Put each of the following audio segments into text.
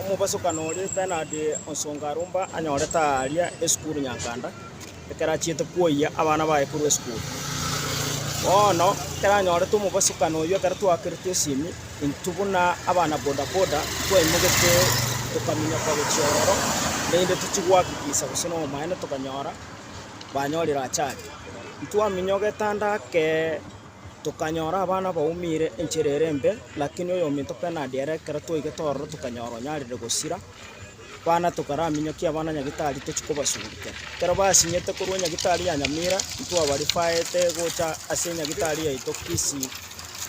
Omobasokani oria Bernard Onsongarumba anyorete aaria esukuru Nyankanda ekero achiete kwoyia abana baye korwa esukuru. Bono ekero anyorete omobasokani oyio ekero twakerete esimi intwe buna abana bodaboda twaimogete tokaminyoka gochia ororo naende tochie gohakikisa gose nobomaene tokanyora banyorire achali. Ntwaminyogete ande ake Tokanyora abana baumire enchera ere embe, lakini oyominto penadi ere ekero twaigete ororo tokanyora onyarire gosira, bana tokaraminyokia abana nyagitari tochie kobasugurikera. Ekero basinyete korwa nyagitari ya Nyamira, ntwabarifaete gocha ase nyagitari yaito Kisii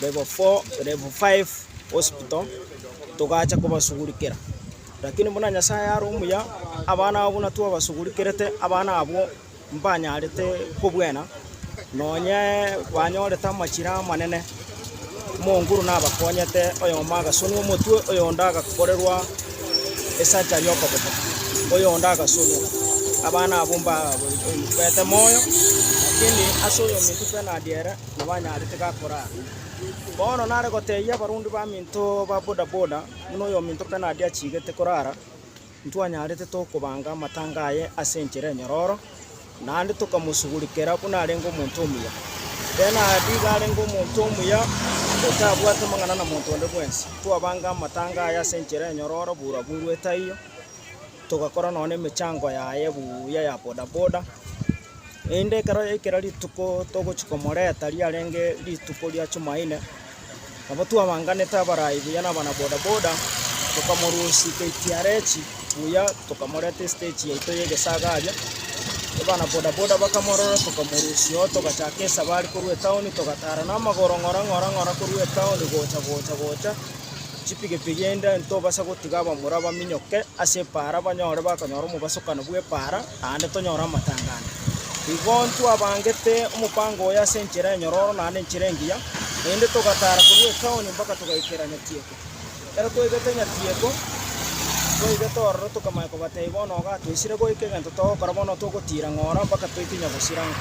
level four level five hospital togacha kobasugurikera. Lakini buna Nyasaye are omuya, abana abo buna twabasugurikerete, abana abwo. mbanyarete kobwena, nonye banyorete amachira amanene, omonguru nabakonyete, oyomo agasunwa omotwe, oyonde agakorerwa esacha y'okoboko, oyonde agasunwa. Abana abwo mbagoite moyo, lakini ase oyominto penalty ere nabo anyarete gakorara. Bono nare gotebia abarundi baminto ba bodaboda, buna oyominto penalty achigete korara. Ntwanyarete tokobanga amatanga aye ase enchera enyororo, naende tokamosugurikera buna arenge omonto omuya. Eena, nigo arenge omonto omuya, otabwati amang'ana na monto onde bwensi. Twabanga amatanga aye ase enchera enyororo buroburu taiyo, togakora nonya nemechango yaye buya ya bodaboda. Erinde ekero yaikera rituko togochia komoreta riarenge rituko ria Jumaine. Nabo twabanganete abarai buya nabanabodaboda, tokamorusia KTRH buya, tokamoreta estage yaito y'egesaga aria. Abanabodaboda bakamorora, tokamorusia oo, togachaka esabari korwa etown, togatara namagoro ng'ora ng'ora ng'ora korwa etown gocha gocha gocha, chipigipigi inde ntobasa gotiga abamura baminyoke ase epaara banyore bakonyora omobasukano bw'epaara. naende tonyore amatanga ande. Igo ntwabangete omopango oye ase enchera enyororo naende enchera engiya, erinde togataara korwa etaoni mpaka togaikera Nyatieko. Ekero twaigete Nyatieko, twaigete ororo tokamanya kobatebia, Bono iga toisire goika, egento togokora bono togotiira ng'ora mpaka toike Nyabusiranga.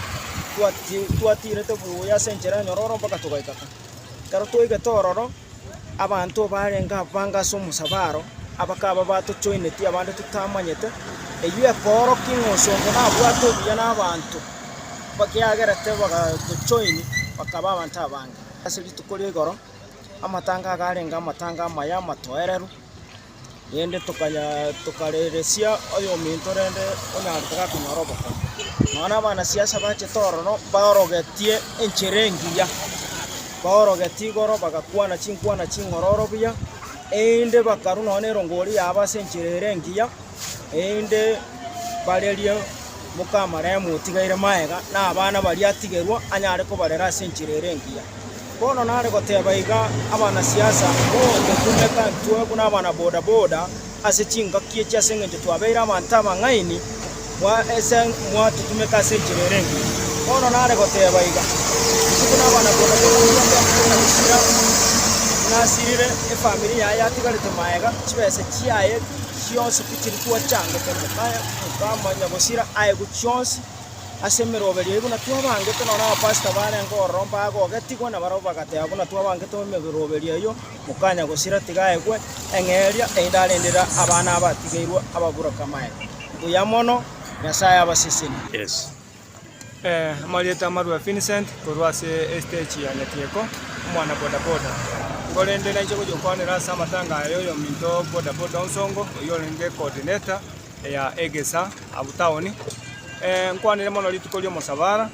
Twati twatiirete buya ase enchera enyororo mpaka togaika ka. Ekero twaigete ororo. Abanto barenge ababanga ase omosabaro abakaba batochoinetie abande totamanyete, eyio ekoorokia ng'a osomba nabwate obuya nabaanto bakiagerete bagatochoini bakaba abanto abange. Ase rituko ria igoro amatanga agarenge amatanga amaya amatoereru. Naende tokareresia oyominto rende onyango tagakonyora obokong'u. Nonya abanasiasa bachete ororo baorogetie enchera engiya, baorogetie igoro bagakwana chinkwana ching'ororo buya, erinde bakarwa nonya na erongori yabo ase enchera ere engiya, erinde barerie mokamaremu otigaire magega, na abana baria atigerwa anyare kobarera ase enchera ere engiya. Bono nare goteba iga abanasiasa bonde buna ebatuo buna abana-bodaboda ase chingaki echi ase engencho twabeire abanto abang'aini ase mwatutumeka ase enchera ere engiya. Bono nare goteba iga, inche buna abana-bodaboda twende gochia gosira nasirire efamiri yaye yatigarete magega, chibesa chiaye chionsi tichiri twachangete moka mokamanya gosira aegwe chionsi. ase emeroberio eye buna twabangete, nonya abapasita barenge ororo mbagogetigwe, na barabwo bagateba buna twabangete emeroberio eyio, mokanya gosira tiga aegwe eng'eria, erinde arendere abana abatigeirwe ababureke amaene. Mbuya mono, Nyasae abasesenie. Yes. Eh, amarieta amarue Vincent korwa ase estage ya Nyatieko, omwana bodaboda. Nigo rende naiche gocha gokwanera ase amatanga aya oyominto bodaboda onsongo, oyio orenge coordinator, ya egesa abwo taoni, nkwanire mono rituko ri'omosabara,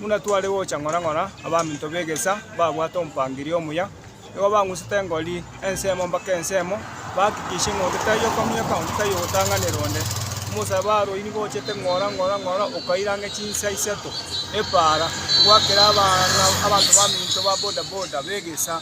buna tware gocha ng'ora ng'ora, abaminto b'egesa babwate omopangiria omuya, nigo bang'usete engori ensemo mpaka ensemo, bahakikisha ng'a onde taiyo okominyoka, onde taiyo ogotang'anera onde. Omosabara oyio nigo ochete ng'ora ng'ora ng'ora okaire ang'e chinsa isato epaara, gwakera abana abanto baminto ba boda boda b'egesa.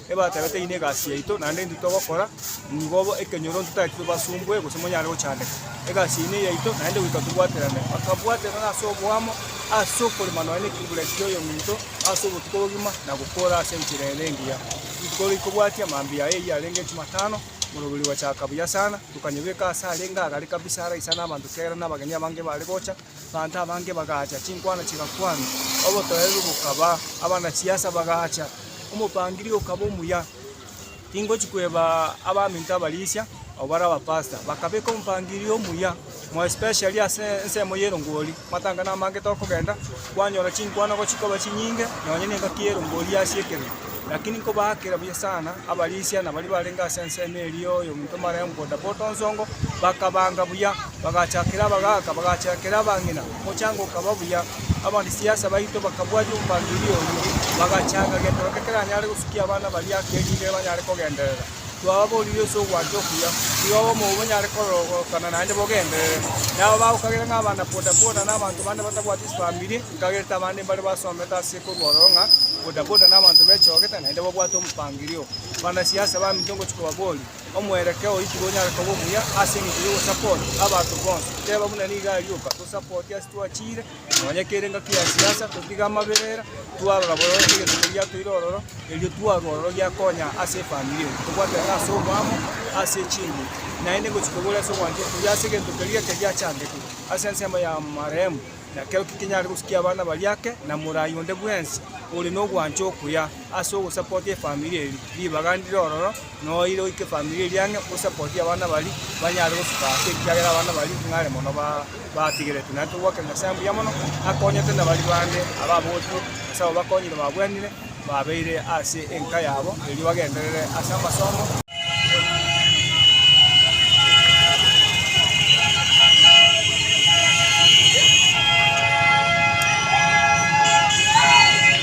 Ebatebete, Eyio negasi yaito, naende intwe togokora nigo bo ekenyoronto tari intwe basumbwe gose monyare gochandeka. Egasi eyio neyaito, naende goika tobwaterane. Bakabwaterana ase oboamo, ase okorema nonya nekegure ki'oyominto ase obotuko bogima, na gokora ase enchera ere engiya. Rituko rikobwatia mambia aya eyio arenge Jumatano, morobori ogochaka buya sana, tokanyebeka aase arenge agare kabisa araisane abanto kiagera nabageni abange bare gocha, Abanto abange bagaacha, chinkwana chigakwanwa, obotoereru bokaba, abana-chiasa bagaacha. Omopangiria okaba omuya, tingochi kweba abaminto abarisia, abwo bare abapastor. Bakabeka omopangiria omuya, more especially ase ensemo ya erongori, amatanga namangete okogenda, kwanyora chinkwana gochia koba chinyinge, nonya nengaki y'erongori yasiekire. Lakini nkobaakera buya sana abarisia na baria barenge ase ensemo eria ya oyominto omoraya omogondo boto nsongo, bakabaanga buya, bagachakera abagaaka, bagachakera abang'ina, omochango okaba buya. Abarisiasa baito bakabwatia omopangiria oyio, bagachanga gento geke keranyare gosukia abana baria ake erinde banyare kogenderera. Twababoorire ase ogwancha okuya, nigo abwo monyare kororokana naende bogenderere. Nabo bagokagera ng'a abana bodaboda nabanto bande batabwati chifamiri, nkagerete abande mbare basomete ase korwa ororo ng'a bodaboda nabanto bechogete naende babwate omopangirio. Banasiasa baminto ngochia kobaboria, omwerekeo oyo tiga onyare koba omuya ase engencho ya ogosupport abanto bonsi. Teba buna nigo arioka, tosupport ase twachiire, Nonya kere engaki ya siasa totige amaberera twarora bobe egetugi giatoire ororo erio twarwa ororo giakonya ase efamiri eye tobwatane ase obwamo ase chingo naende gochi kobua ase ogwancha okuya ase egento keria eke giachangete ase ensemo ya marehemu nakero tikinyare gosukia abana baria ake na morai onde bwensi ore nogwancha okuya ase ogosapotia efamiri eri ribaga ndire ororo. Noire oike efamiri eria ang'e osapotie abana baria banyare gosuka ase ekiagera abana baria ng'are mono batigeretwe. Naende togwakera Nyasae mbuya mono akonyete na baria bande ababotwe ase abwo bakonyire babwanire babeire ase enka yabo erio bagenderere ase amasomo.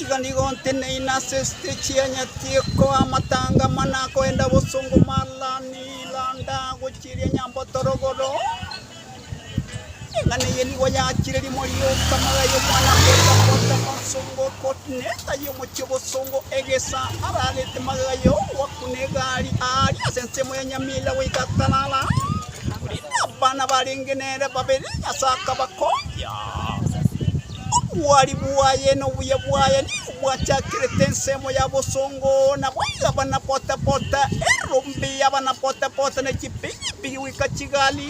Igo nigo nteneine ase esiteji ya Nyatieko, amatanga amane akoenda bosongo, Marlani, Landa, gochieria Nyamboto rogoro. Eng'ana eye nigo yachire rimo rioka magega y'omwana koenda kota bosongo kotineta y'omochie bosongo egesa ararete magega y'ogwakwa n'egari aari ase ensemo ya Nyamira goika atarara. Korende abana barenge nere babere Nyasae akabakombia. Obwari bwaye na obuya bwaye nigo bwachakerete ensemo ya bosongo, na boigo abana bota-bota, erombe y'abana bota-bota ne chipigipigi goika chigari.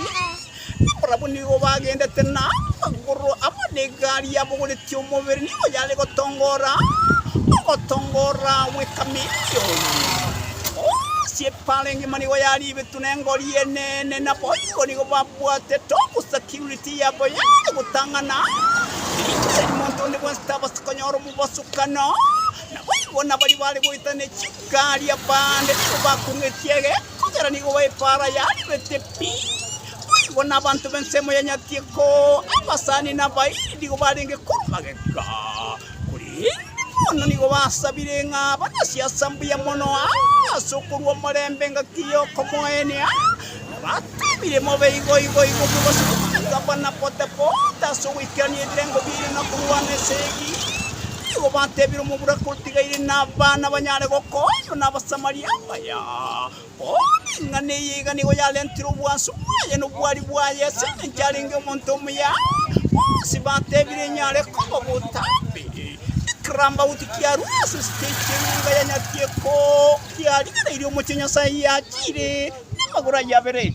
Nabarabwo nigo bagendete na amagoro amo negari yabogoretie omobere nigo yare gotongora, ogotongora gwe kamilioni. Ase epaara engima nigo yaribetwe nengori enene, na boigo nigo babwatete obosaki. Security yabo yare gotang'ana, teri monto onde bwensi tabasete konyora omobasukano. Naboigo nabaria bare goeta ne chingari abande nigo bakong'etie egeko kera nigo epaara yaribete pi. Boigo nabanto b'ensemo ya Nyatieko, abasani na abairi nigo barenge korwa magega. Korende bono nigo basabire ng'a abane siasa mbuya mono aase okorua omorembe engaki y'okomoenia, na bateebire, Mobe igo, igo, igo, mwegose komanyeria abana bote-bote ase ogoikerania ebirengo biaino na korwana esegi. Nigo bateebire omoboraki otigaire na abana banyare gokonywa n'Abasamaria abaya. Oo, ring'ana eye iga nigo yarentire obwansu bwaye na obwari bwaye ase engencho arenge omonto omuya. Bonsi batebire inyo are koba botambe. Ekirambauti kiarure ase stage y'enyomba ya Nyatieko, kiarigereirie omochie Nyasae yachiire, na amagoro ayio abere.